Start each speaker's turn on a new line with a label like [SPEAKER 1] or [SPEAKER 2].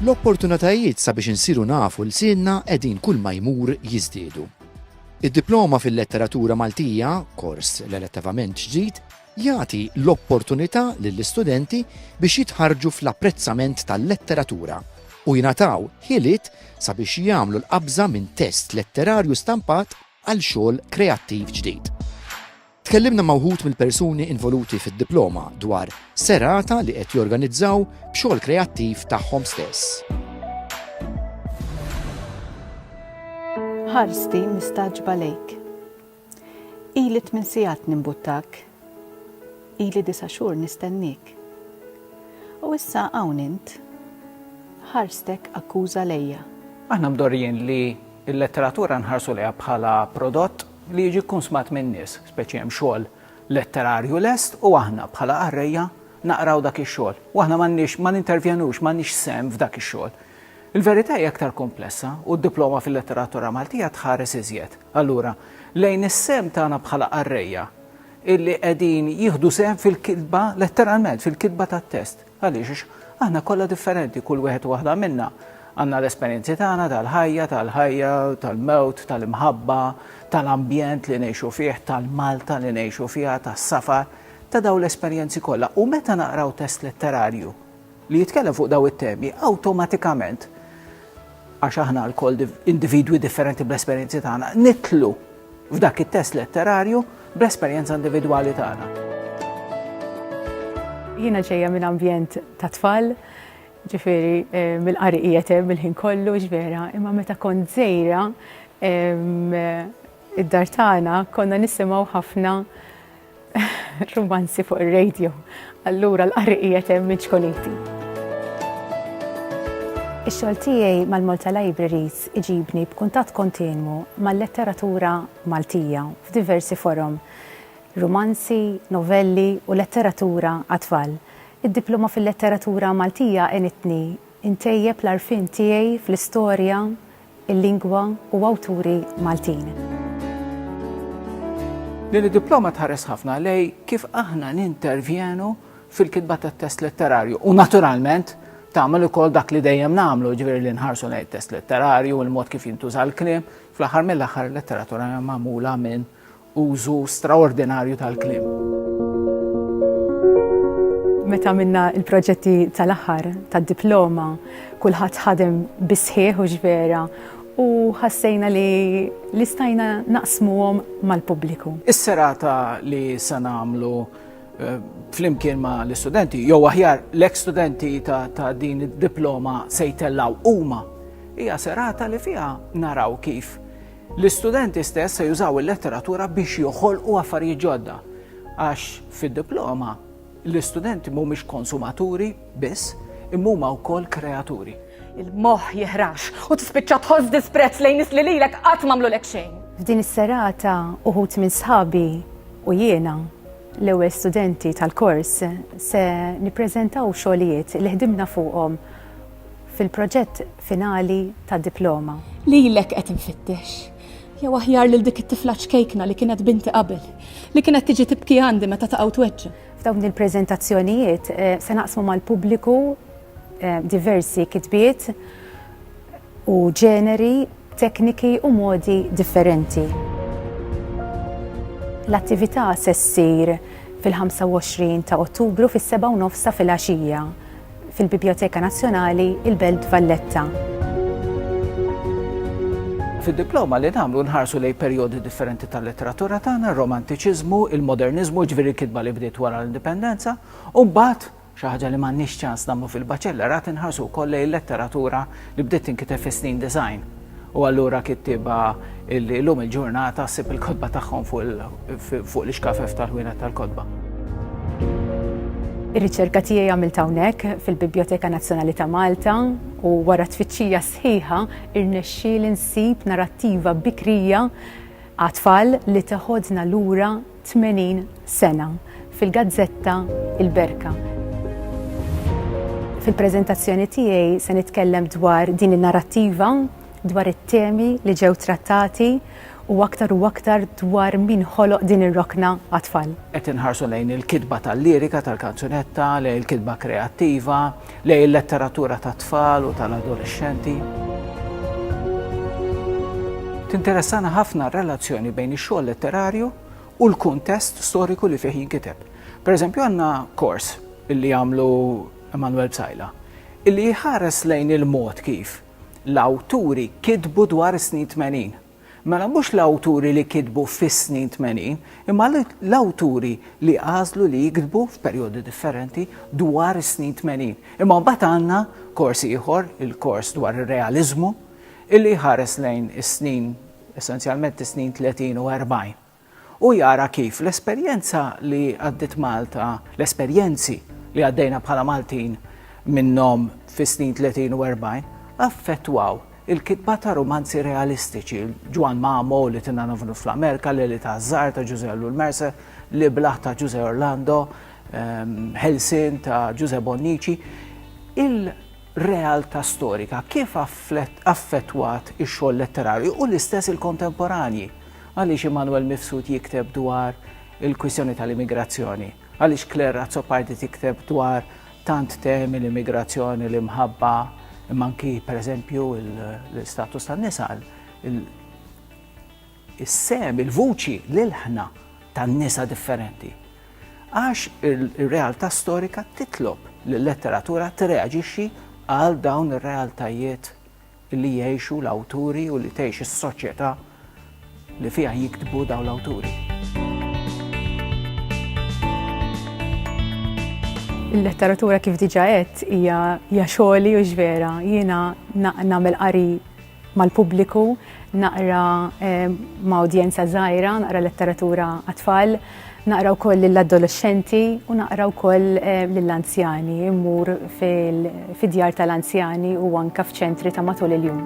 [SPEAKER 1] L-opportunitajiet sabiex insiru nafu l-sienna qegħdin kull ma jmur jiżdiedu. Id-diploma fil-letteratura Maltija, kors relattivament ġdid, jagħti l-opportunità lill-istudenti biex jitħarġu fl-apprezzament tal-letteratura u jingħataw ħiliet sabiex jagħmlu l-qabża minn test letterarju stampat għal xogħol kreattiv ġdid. Tkellimna ma' wħud mill-persuni involuti fid-diploma dwar serata li qed jorganizzaw b'xogħol kreattiv tagħhom stess.
[SPEAKER 2] Ħarsti mistagħġba lejk. Ili tmien sigħat nimbuttak. Ili disa' xhur nistennik. U issa hawn int. Ħarstek akkuża lejja. Aħna mdorrijin
[SPEAKER 3] li Il-letteratura nħarsu lejha bħala prodott li jiġi kkunsmat min-nies, speċi hemm xogħol letterarju lest u aħna bħala qarrejja naqraw dak ix-xogħol u aħna m'għandniex ma nintervjenux, m'għandniex sehem f'dak ix-xogħol. Il-verità hija aktar kumplessa u d-diploma fil-letteratura Maltija tħares iżjed, allura, lejn is-sehem tagħna bħala qarrejja illi qegħdin jieħdu sehem fil-kitba, letteralment, fil-kitba tat-test. Għaliex? Għax aħna kollha differenti, kull wieħed u waħda minna għandna l-esperjenzi tagħna tal-ħajja, tal-ħajja, tal-mewt, tal-imħabba, tal-ambjent li ngħixu fih, tal-Malta li ngħixu fiha, tas-safar, ta' dawn l-esperjenzi kollha. U meta naqraw test letterarju li jitkellem fuq dawn it-temi, awtomatikament, għax aħna lkoll individwi differenti bl-esperjenzi tagħna, nitlu f'dak it-test letterarju bl-esperjenza individwali tagħna.
[SPEAKER 2] Jiena ġejja minn ambjent ta' tfal, ġifieri eh, mill-qari qiegħed hemm il-ħin kollu ġvera, imma meta kont żejra id-dar tagħna konna nisimgħu ħafna Rumanzi fuq ir-radio. Allura l-qari qiegħed hemm minn ċkoliti. Ix-xogħol tiegħi mal-Malta Libraries iġibni b'kuntatt kontinwu mal-letteratura Maltija f'diversi forom, rumanzi, novelli u letteratura għat-tfal. Id-diploma fil-letteratura Maltija għenitni ntejjeb l-għarfien tiegħi fl-istorja, il-lingwa u awturi Maltin.
[SPEAKER 3] Din id-diploma tħares ħafna lejn kif aħna nintervjenu fil-kitba tat-test letterarju u naturalment tagħmel ukoll dak li dejjem nagħmlu, ġifieri li nħarsu lejn test letterarju, il-mod kif jintuża l-kliem, fl-aħħar mill-aħħar il-letteratura hija magħmula minn Użu straordinarju tal-kliem.
[SPEAKER 2] Meta għamilna l-proġetti tal-aħħar tad-diploma, kulħadd ħadem bis-sħiħ u x'vera u ħassejna li li stajna naqsmuhom mal-pubbliku. Is-serata
[SPEAKER 3] li se nagħmlu eh, flimkien ma' l-istudenti, jew aħjar l-ek studenti ta' din id-diploma se jtellaw huma, hija serata li fiha naraw kif L-istudenti stess se jużaw il-letteratura biex joħolqu affarijiet ġodda, għax fid-diploma l-istudenti mhumiex konsumaturi biss, imma huma wkoll kreaturi. Il-moħħ
[SPEAKER 4] jeħrax u tispiċċa tħoss disprezz lejn nies li lilek qatt m'għamlulek xejn. F'din is-serata
[SPEAKER 2] uħud minn sħabi u jiena, l-ewwel studenti tal-kors, se nippreżentaw xogħlijiet li ħdimna fuqhom fil-proġett finali ta' diploma. Lilek qed
[SPEAKER 4] infittex. Jew aħjar lil dik it-tifla ċkejkna li kienet binti qabel, li kienet tiġi tibki għandi meta taqa' u tweġġa'. F'dawn
[SPEAKER 2] il-preżentazzjonijiet se naqsmu mal-pubbliku diversi kitbiet u ġeneri, tekniki u modi differenti. L-attività se ssir fil-25 ta' Ottubru fis-sebgħa u nofs ta' filgħaxija fil-Bibjoteka Nazzjonali, il-Belt Valletta.
[SPEAKER 3] Fid-diploma li nagħmlu nħarsu lejn perjodi differenti tal-letteratura tagħna, r-romantiċiżmu, il-moderniżmu, ġifieri kitba li bdiet wara l-indipendenza, u mbagħad xi ħaġa li m'għandniex ċans nagħmlu fil-baċellerat inħarsu wkoll lejn letteratura li bdiet tinkiteb fis-snin design. u allura kittieba li llum il-ġurnata ssib il-kotba tagħhom fuq l-ixkafef tal-ħwienet tal-kotba.
[SPEAKER 2] Ir-riċerka tiegħi għamiltha hawnhekk fil-Bibljoteka Nazzjonali ta' Malta u wara tfittxija sħiħa rnexxieli nsib narattiva bikrija għat-tfal li teħodna lura 80 sena fil-gazzetta Il-Berka. Fil-preżentazzjoni tiegħi se nitkellem dwar din in-narrattiva, dwar it-temi li ġew trattati u aktar u aktar dwar min ħoloq din ir-rokna għat-tfal. Qed inħarsu lejn
[SPEAKER 3] il-kitba tal-lirika tal-kanzunetta, lejn il-kitba kreattiva, Lejn il-letteratura tat-tfal u tal-adolexxenti. Tinteressana ħafna r-relazzjoni bejn ix-xogħol letterarju u l-kuntest storiku li fih jinkiteb. Per eżempju, għandna kors li għamlu Emanuel Bsajla, illi jħares lejn il-mod kif l-awturi kitbu dwar is-snin 80. Mela mhux l-awturi li kitbu fis-snin tmenin, imma l-awturi li għażlu li jiktbu f'perjodi differenti dwar is-snin tmenin. Imma mbagħad għandna kors ieħor, il-kors dwar ir-realiżmu, illi jħares lejn is-snin, essenzjalment is-snin tletin u erbgħin. u jara kif l-esperjenza li għaddiet Malta, l-esperjenzi li għaddejna bħala Maltin minnhom fis-snin tletin u erbgħin, affettwaw il-kitba ta' rumanzi realistiċi, Ġwann Mamo, Li Tinna Nofnu fl-Amerika, L-Għeli taż-Żgħar ta' Ġużè Ellul Mercer, L-Iblah ta' Ġużè Orlando, Ħelsien ta' Ġużè Bonnici. Il-realtà storika kif affettwat ix-xogħol letterarju u l-istess il-kontemporanji? Għaliex Immanuel Mifsud jikteb dwar il-kwistjoni tal-immigrazzjoni? Għaliex Claire Azzopardi tikteb dwar tant temi, l-immigrazzjoni, l-imħabba, imma anki, per eżempju, l-istatus tan-nisa, is-sehem, il-vuċi, l-ilħna tan-nisa differenti? Għax ir-realtà storika titlob li l-letteratura tirreaġixxi għal dawn ir-realtajiet li jgħixu l-awturi u li tgħix is-soċjetà li fiha jiktbu dawn l-awturi.
[SPEAKER 2] Il-letteratura kif diġà għedt hija hija xogħli u x'vera. Jiena nagħmel qari mal-pubbliku, naqra ma' udjenza żgħira, naqra letteratura għat-tfal, Naqra wkoll lill-adolexxenti u naqra wkoll eh, lill-anzjani, immur fid-djar tal-anzjani u anka f'ċentri ta' matul il-jum.